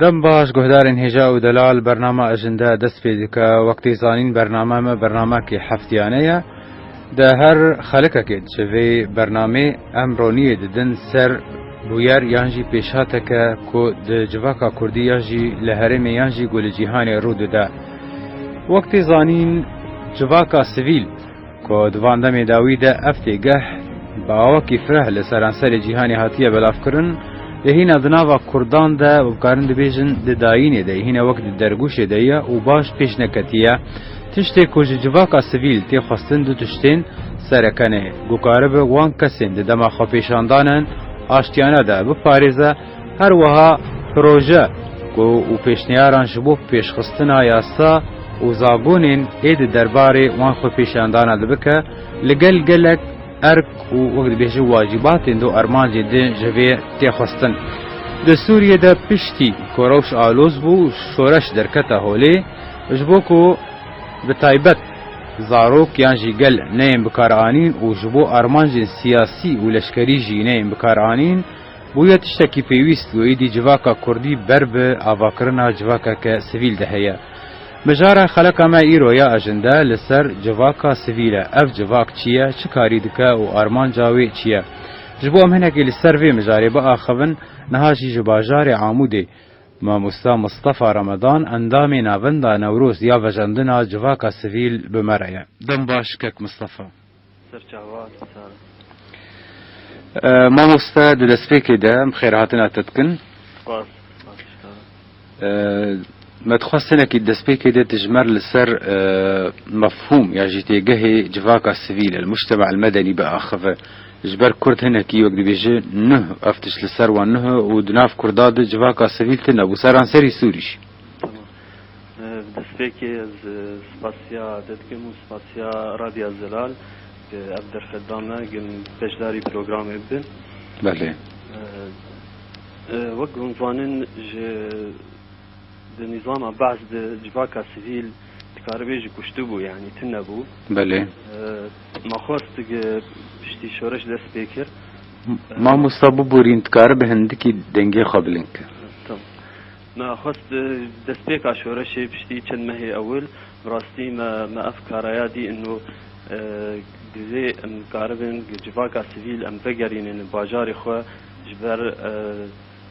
Dem baş guhdarên hêja û delal bernama Ejinde dest pê dike. Wek tê zanîn bernama me bernamekê heftiyanê ye. Di her xelikekê diçe vê bernamê em roniyê didin ser bûyer yan jî pêşhateke ku di civaka kurdî ya jî li herêmê yan jî ku li cîhanê rû dide. Wek tê zanîn civaka sivîl, Ku di van demê dawî de ev têgeh bi awakî fireh li seranserê cîhanê hatiye belavkirin, lê hîna di nava Kurdan de û bikarin dibêjin di dayînê de ye, hîna wek di dergûşê de ye û baş pêş neketiye. Tiştê ku ji civaka sivîl tê xwestin du tiştên serekenê ku karibe wan kesên di dema xwepêşandanan aştiyane de biparêze, Her wiha proje ku û pêşniyaran ji bo pêşxistina yasa û zagonên êdî derbarê wan xwepêşandana dibike li gel gelek erk û wek dibêje wacîbatên do armancên din ji vê tê xwestin. Di Sûriyê de piştî ku rewş aloz bû şoreş derkete holê ji bo ku bi taybet zarok yan jî gel neyên bikaranîn û ji bo armancên siyasî û leşkerî jî neyên bikaranîn, Bûye tiştekî pêwîst û êdî civaka kurdî ber bi avakirina civakeke sivîl de heye. Mijara xeleka me îro ya ejinde li ser civaka sivîl e. Ev civak çi ye, çi karî dike û armanca wê çi ye? Ji bo em hinekî li ser vê mijarê biaxivin, niha jî ji bajarê Amûdê Mamosta Mistefa Remedan endamê Navenda Newroz ya Vejandina Civaka Sivîl bi me re ye. Dem baş kek Mistefa. Mamoste di destpêkê de em xêrhatina te dikin. Me dixwest tenekî di destpêkê de dijmer li ser mefhûm ya jî têgehê civaka sivîl el mûctema el medenî biaxive. Ji ber kurd hinekî wek dibêje nuh ev tişt li ser wan nuh e û di nav kurda de civaka sivîl tune bû seranserî Sûrî jî. Bi destpêkê ez spasiya te dikim û spasiya Radya Zelal ke ev derfet da me ku em beşdarî programê bibin. Belê. Wek ku hûn dizanin ji di nîzama behs de civaka sivîl dikaribê jî kuştibû yanî tune bû. Belê. Ma xwest ku piştî şoreş dest pê kir. Mamosta biborîn dikaribe hindikî dengê xwe bilind kir. Tamam. Me xwest destpêka şoreşê piştî çend mehê ewil bi rastî me me ev karaya dî îno divê em karibin civaka sivîl em vegerînin li bajarê xwe ji ber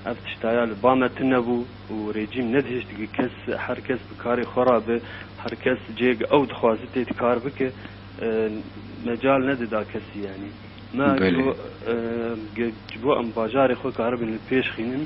ev tiştaya li ba me tunebû û rejîm nedihişt gi kes her kes bi karê xwe re be her kes cê gi ew dixwazi tê di kar bike mecal nedida kesî yanî me ji bo em bajarê xwe karibin li pêş xînin.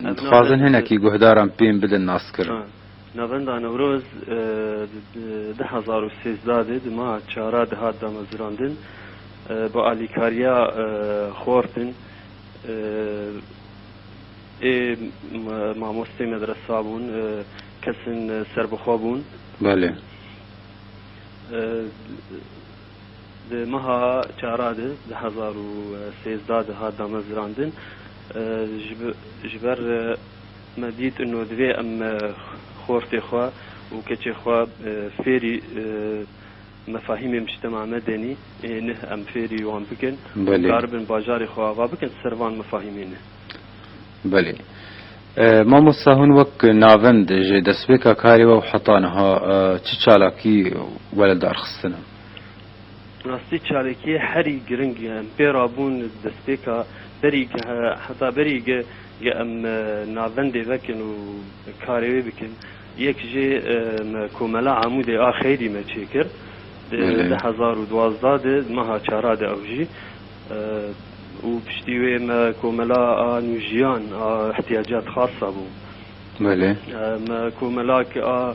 Em dixwazin hinekî guhdaran pêm bidin naskirin. Navenda Newroz di du hezar û sêzdeh de di meha çara dihat damezirandin bi alîkariya xortin ê mamosteyê medresa bûn kesin serbixwe bûn. Di meha çara de di hezar û sêzdeh de hat damezrandin. Ji ber me dît ino divê em xortê xwe û keçê xwe fêrî mefahîmê mûçtema me denî ê neh em fêrî wan bikin û dikaribin bajarê xwe ava bikin di ser van mefahîmê ne. Belê. Mamosta hûn wek navend ji destpêka karê we û heta niha çi çalakî were darxistin in? Bi rastî çalakiyê herî giring ye. Em pê re bûn li destpêka berî ge heta berî ge ge em navendê vekin û karê wê bikin. Yek jê me Komela Amûdê a Xeyrî me çêkir di du hezar û duwazdeh de di meha çara de ew jî û piştî wê me Komela a Nûjiyan a Îhtîyaciyat Xasa bû. Me Komelak a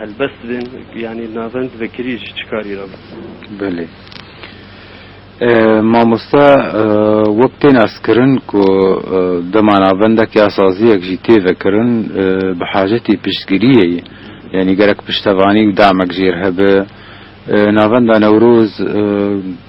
Helbest bên yanî navend vekirî ji çi karî re bû? Belê. Mamoste wek tên astkirin ku dema navendek ya saziyek jî tê vekirin bi hacetî piştgiriyê ye. Yanî gerek piştevanî û damek jê re hebe. Navenda Newroz.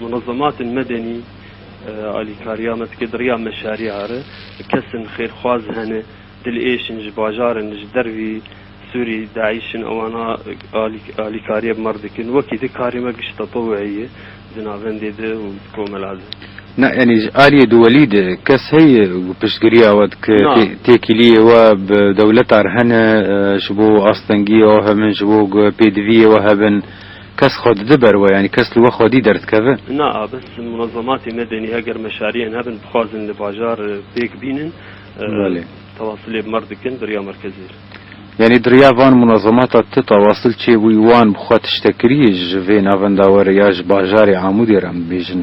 Munezematên medenî alîkariya me dike di riya meşariya re. Kesên xêrxwaz hene, dilêş in ji bajar in, ji dervî Sûrî, DAIŞ in ewana alîkariya bi me re dikin. Wekî di karê me giş tetewu'î ye di navendê de û di komela de. Na yanî ji aliyê dewelî de kes heye ku piştgiriya we dike? Na. Têkiliyê we bi dewleta re hene ji bo astengiyê we hebin, ji bo ku pêdiviyê we hebin? Kes xwe dide ber we, yanî kes li we xwedî derdikeve. Na, bes munezematên medenî heger meşariyên hebin bixwazin li bajar pêk bînin, tewasilê bi mer dikin bi riya merkezê re. Yanî di riya van munezemata te tewasil çêbûyî wan bi xwe tiştek kiriyê ji vê navenda we re ya ji bajarê Amûdê re em dibêjin?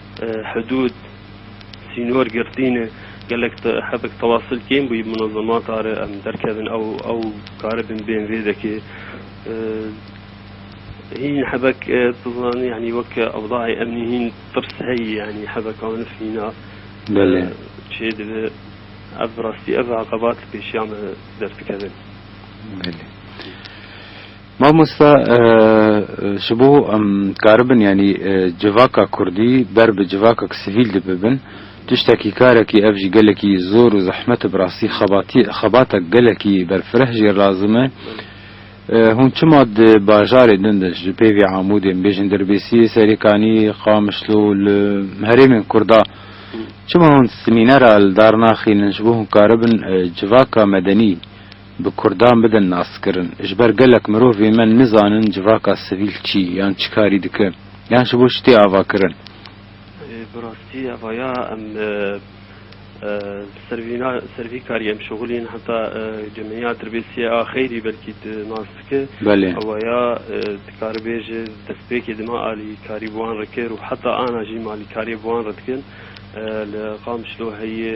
Hidûd, sînor girtîne gelek hebek tewasil kêm bû munezemata re em derkevin ew ew karibin bên vê dekê. Hîn hebek tu zanî yanî wek ewdayê emnî hîn tirs heyî yanî hebek anif hîna çê dibe. Ev bi rastî ev aqebat li pêşiya me derdikevin. Mamosta ji bo em dikaribin yanî civaka kurdî ber bi civakek sivîl de bibin tiştekî karekî ev jî gelekî zor û zehmet e bi rastî xebatî xebatek gelekî berfireh jî lazim e. Hûn çima di bajarê din de ji pê vê Amûdê em bêjin Dirbêsiyê, Serêkanî, Qamişlo li herêmên Kurd a çima hûn semînera li dar naxînin ji bo hûn karibin civaka medenî Bi kurdan bidin naskirin. Ji ber gelek mirov ê me nizanin civaka sivîl çi yan çi karî dike yan ji bo çi tê avakirin. Bi rastî eva ya em ser vî karî em şixul în heta gemîniya dirbêsîye a xeyrî belkî tu nas dike eva ya dikaribê ji destpêkê dima alîkarî bi wan re kir û heta ana jî em alîkariyê bi wan re dikin li Qamişlo heye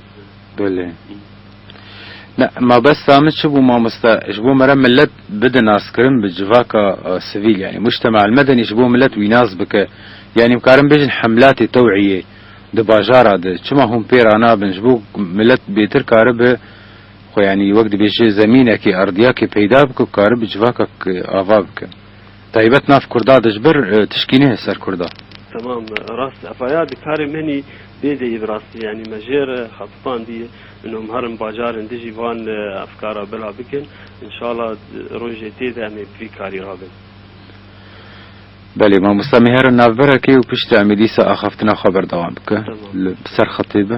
Belê. Ne, mabesta min çi bû mamosta, ji bo me re milet bide naskirin bi civaka sivîl yanî mujtema el medenî ji bo milet wî nas bike. Yanî bikarin bêjin hemlatê tewîyê di bajara de çima hûn pê ra nabin ji bo milet bêtir karibe xwe yanî wek dibêje zemînekê, erdiyakê peyda bike ku karibe civakek ava bike. Taybet nav kurda de ji ber tişkînê heye ser kurda. Temam rast ev ya di karê min hî Bê deyî bi rastî yanî me jê re xebitandî no miherim bajarên dijî van efkara bila bikin înşala rojê tê de em ê bi vî karî ra bin. Belê mamosta miherim navbera kê û piştî em ê dîsa axaftina xwe berdewam bikin li ser xetê be.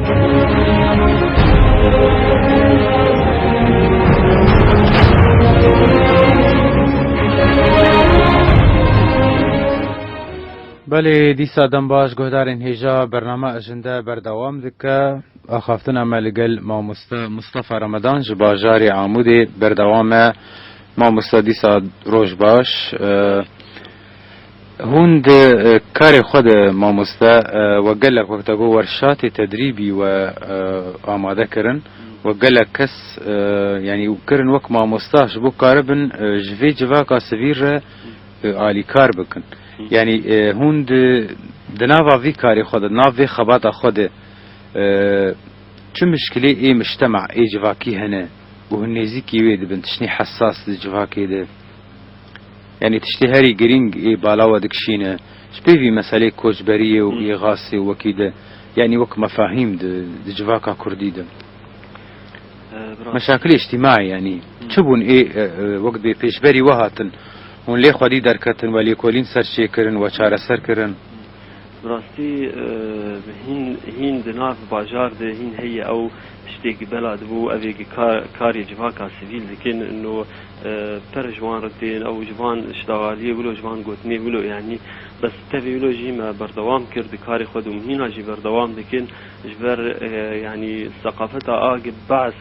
Belê dîsa dem baş guhdarên hêja bername Ejinde berdewam dike. Axaftina me li gel mamoste Mustafa Remedan ji bajarê Amûdê berdewam e. Mamoste dîsa roj baş. Hûn di karê xwe de mamoste wek gelek wek da got wer şatê tedrîbî we amade kirin wek gelek kes yanî kirin wek mamosta ji bo karibin ji vê civaka sivîl re alîkar bikin yanî hûn di di nava vî karê xwe de di nav vê xebata xwe de çi muşkilê ê muştema ê civakî hene û hûn nêzîkî wê dibin tiştî hesas di civakê de Yanî tiştê herî girîng ê bala we dikişîne ji pê vî meselê koçberiyê û îxasê û wekî de yanî wek mefahîm di di civaka kurdî de meşakilê îctîmaî yanî çi bûn ê wek dibê pêşberî we hatin hûn lê xwedî derketin we lêkolîn serçêkirin we çareser kirin. Bi rastî hîn hîn di nav bajar de hîn heye ew tiştê gi bela dibû ev ê gi karê civaka sivîl dikin no Per ji wan re tên ew ji van şdagaliyê wilo ji van gotinê wilo yanî bes tevî wilo jî me berdewam kir di karê xwe de û hîna jî berdewam dikin ji ber yanî seqafeta a ge behs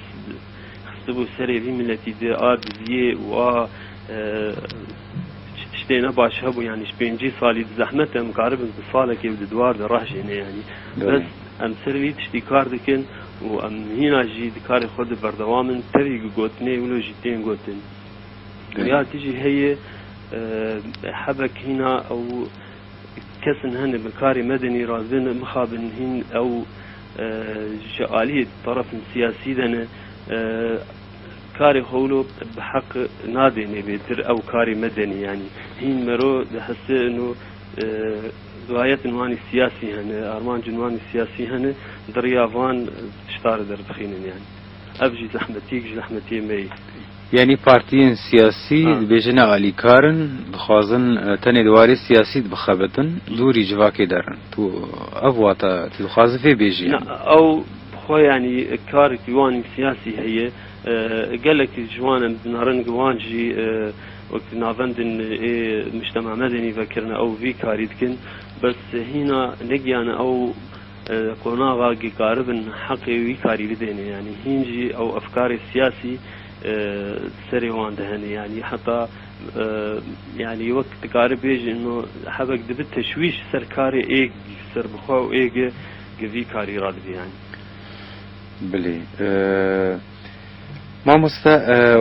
xistibû serê vî miletî de a diziyê û a çi tiştê ne baş hebû yanî ji pêncî salî di zehmet em karibin di salekê û di diwar de rehjêne yanî bes Em ser vî tiştî kar dikin û em hîna jî di karê xwe de berdewam in. Tevî ku gotinê wilo jî tên gotin. Ya tu jî heye hebe ku hîna ew kes in hene bi karê medenî re dibê mixabin hîn ew ji aliyê terefên siyasî de ne. Karê xwe wilo bi heq nadê nê bê tir ew karê medenî yanî hîn mero dihese ino. Duayetên wan ê siyasî hene, armancên wan ê siyasî hene, di riya van tişta re derbixînin yani. Ev jî zehmetiyek ji zehmetiyên me yê. Yanî partiyên siyasî dibêjin ne alîkar in, dixwazin tenê di warê siyasî de bixebitin, dûrî civakê der in. Tu ev wata tu dixwazî vê bêjî yanî? Na, ew bi xwe yanî karekî wan ê siyasî heye. Gelekî ji wan em dinarin ku wan jî, Wek navendên ê Mujtema Medenî vekirine ew vî karî dikin bes hîna negiyane ew li qonaxa ge karibin heqê wî karî bidêne yanî hîn jî ew efkarê siyasî di serê wan de hene yanî heta yanî wek dikari bêje ino hebek dibi teşwîş ser karê ê serbixwe û ê ge ge vî karî ra dibe yanî. Bilê. Mamoste,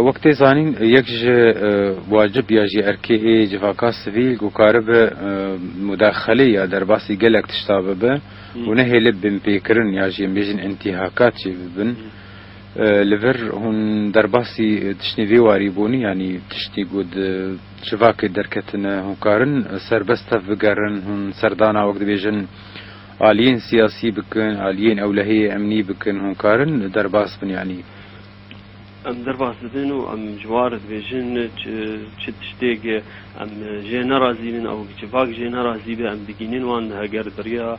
wek tê zanîn yek ji wacib ya jî erkê ê civaka sivîl ku karibe mudexelê ya derbasî gelek tişta bibe û nehêlib binpêkirin ya jî em bêjin intîhakat jî bibin. Li vir hûn derbasî tiştên vê warî bûn yanî tiştî ku di civakê derketine hûn karin serbest tev bigerin hûn serdana wek dibêjin Aliyên siyasî bikin, aliyên ewlehiyê emnî bikin, hûn karin derbas bin yanî? Em derbas dibin û em ji wan re dibêjin çi tiştêk em jê nerazî bin û civak jê nerazî be em digînin wan heger di riya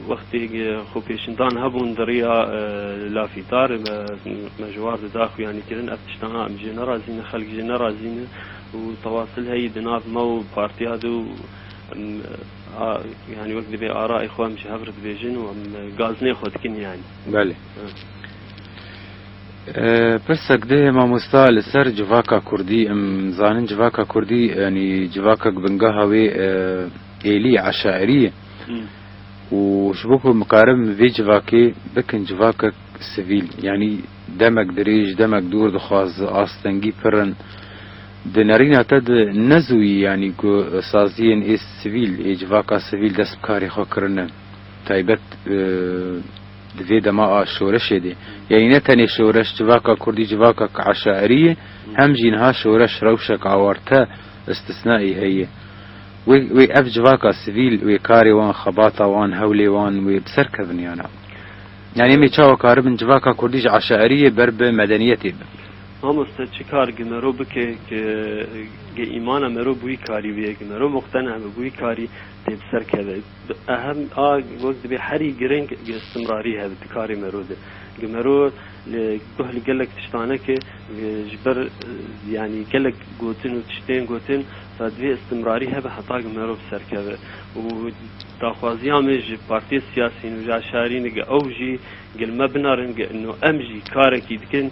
wextêk xwepêşindan hebûn di riya lafîdar be me ji wan re da xwe yanî kirin ev tiştana em jê nerazî ne xelk jê nerazî ne û tewasilheyî di nav me û partiya de û A yanî wek divê arayê xwe em ji hev re dibêjin û em gaznê xwe dikin yanî. Belê. Pirsek dihê mamosta li ser civaka kurdî. Em zanin civaka kurdî yanî civakek bingeha wê êlî ye, eşairî ye. Û ji bo ku mikaribin bi vê civakê bikin civakek sivîl yanî demek dirêj, demek dûr dixwaz, astengî pir in. Di nerîna te de ne zûyî yanî ku saziyên ê sivîl, ê civaka sivîl dest bi karê xwe kirine, taybet di vê dema a şoreşê de. Yanî ne tenê şoreş civaka kurdî civakek eşairî ye, hem jî niha şoreş rewşek awarte, îstîsnaî heye. Wê wê ev civaka sivîl, wê karê wan, xebata wan, hewlê wan wê bi ser kevin yana. Yanî em ê çawa karibin civaka kurdî ji eşairiyê ber bi medeniyetê bin? Mamoste çi kar gi mero bike ke ge îmana mero bi wî karî bûye, ge mero muqtena be bi wî karî tê bi ser keve. Ehem a wek dibê herî giring ge istimrarî hebe di karê mero de. Ge mero li guh li gelek tiştan e ke ge ji ber yanî gelek gotin û tiştên gotin re divê istimrarî hebe heta ge mero bi ser keve. Û daxwaziya me ji partiyên siyasî nû ji eşarî ne ge ew jî ge li me binarin ge ino em jî karekî dikin,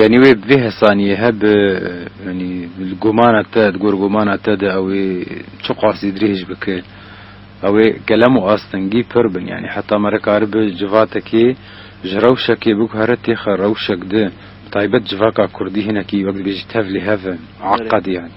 Yanî wê bi vê hesanîyehe bi yanî li gomana te di gor gomana te de ew ê çi qasî dirêj bike ew ê kelem û astingî pir bin yanî heta me rikaribe civatekê ji rewşekê biguhere têxe rewşek di bi taybet civaka kurdî hinekî wek dibêjî tev lê hev in eqedî yanî.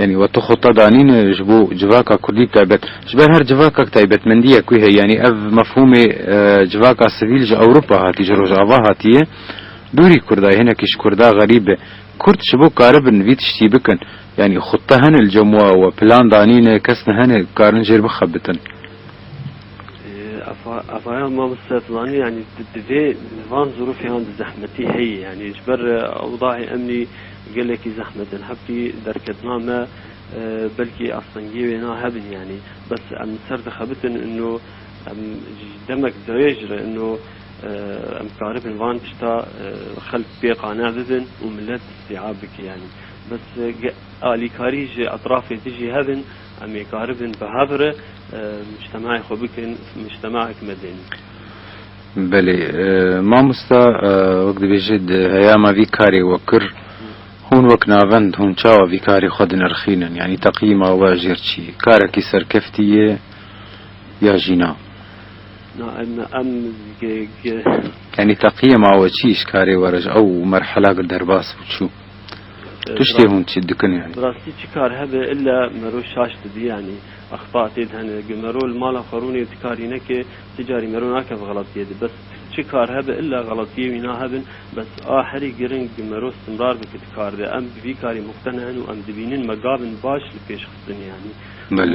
Yanî we tu xwe ta danîn ji bo civaka kurdî bi taybet. Ji ber her civakek taybetmendiyek wî heye. Yanî ev mefhûmê civaka sivîl ji Ewropa hatî, ji Rojava hatiye. Dûrî kurda ye, hinekî ji kurda xerîb be. Kurd ji bo karibin vî tiştî bikin, yanî xwe ta hene li cem wa we plan danîn e, kes nehene ku karin jêr bixebitin. Avaya mamoste Zilani, yanî divê li van zirûfê an di zehmetî heyê, yanî ji ber ewdahê emnî, Gelekî zehmet in hebtî derketina me belkî astengiyê wê na hebin yanî bes em li ser dixebitin ino em ji demek dirêj re ino em karibin van tişta xelk pê qane bibin û milet îstîab bike yanî bes alîkarî ji etrafê dijî hebin em ê karibin bi hev re mictemeyê xwe bikin mictemeyek medeni. Belê mamosta wek dibêje di heyama vî karê we kir hûn wek navend hûn çawa vî karê xwe dinirxînin yanî teqîma we jêr çî karekî serkeftî ye ya jî na? Na em em Yanî teqîma we çî ji karê we re ji ew merhela gir derbas bû çû tiştê hûn çi dikin yanî? Bi rastî çi kar hebe illa mero şaş dibi yanî axpatê di hene ge mero li mala xwe rûnê dikarîne ke Ti carî mero nake bi xelatiyê de bes çi kar hebe illa xelatiyê wî nahebin bes a herî giring bi mero stimrar bi ki di kar de em bi vî karî muxtene hin û em dibînin me gavin baş li pêş xistin yanî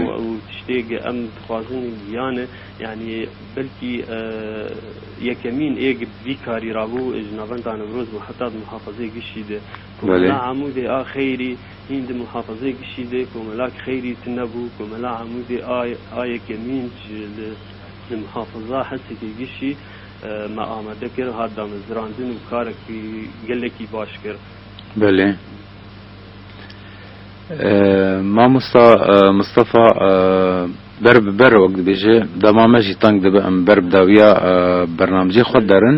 û ew tiştê ge em dixwazin giyane yanî belkî yekemîn ê ge bi vî karî rabû ji navenda Newroz û heta di muhafazeyê Gişî de ku bila Amûdê a xeyrî Hîn di muhafazeyê gişî de komela xeyrî tune bû. Komela Amûdê a yeke mîn ji li muhafaza hesekê gişî me amade kir, hat damezrandin û karek gelekî baş kir. Belê. Mamosta Mistefa ber bi ber wek dibêje, dema me jî teng dibe em ber bi dawiya bernamecê xwe derin.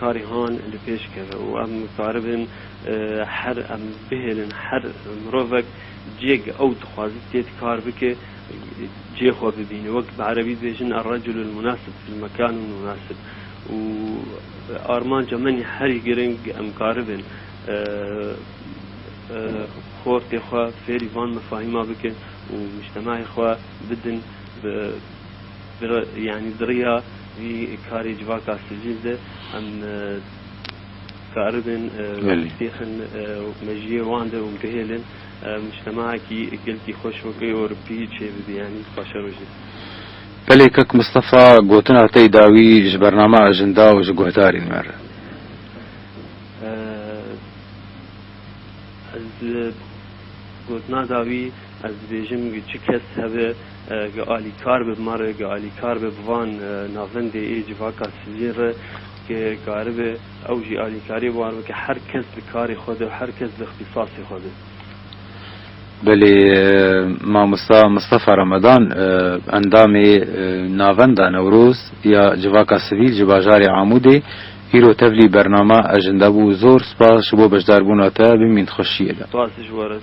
Karê han li pêş keve û em karibin her em bihêlin her mirovek ciyek ew dixwaze tê di kar bike cê xwe bibîne wek bi erebî dibêjin Er-reculu el-munasib fil mekan el-munasib û armanca min ya herî giring em karibin xortê xwe fêrî van mefahîma bikin û mujtemahê xwe bidin bi Di yanî di riya vî karê civaka sicil de em dikaribin bixin û mejiyê wan de û bihêlin mujtemacekî gelkî xweş wek ê Ewropî çêbibî yanî paşerojê. Pelê Kak Mistefa gotina tey da wî ji bername ajinda û ji guhdarên me re. Ez li gotina da wî. Ez dibêjim gi çi kes hebe gi alîkar be bi ma re, gi alîkar be bi van navendê ê civaka sivîlîn re ke karibe ew jî alîkariyê war bike her kes li karê xwe de û her kes li îxtîsasê xwe de. Belê mamosta Mistefa Remedan endamê Navenda Newroz ya Civaka Sivîl ji bajarê Amûdê îro tevlî bernama Ejinde bû. Zor spas ji bo beşdarbûna te. Bimîn di xweşiyê de. Spas ji we re.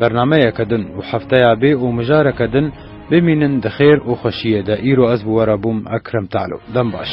Bernameyeke din û hefteya bê û mijareke din bimînin di xêr û xweşiyê de îro ez bi we re bûm Ekrem Talo dem baş.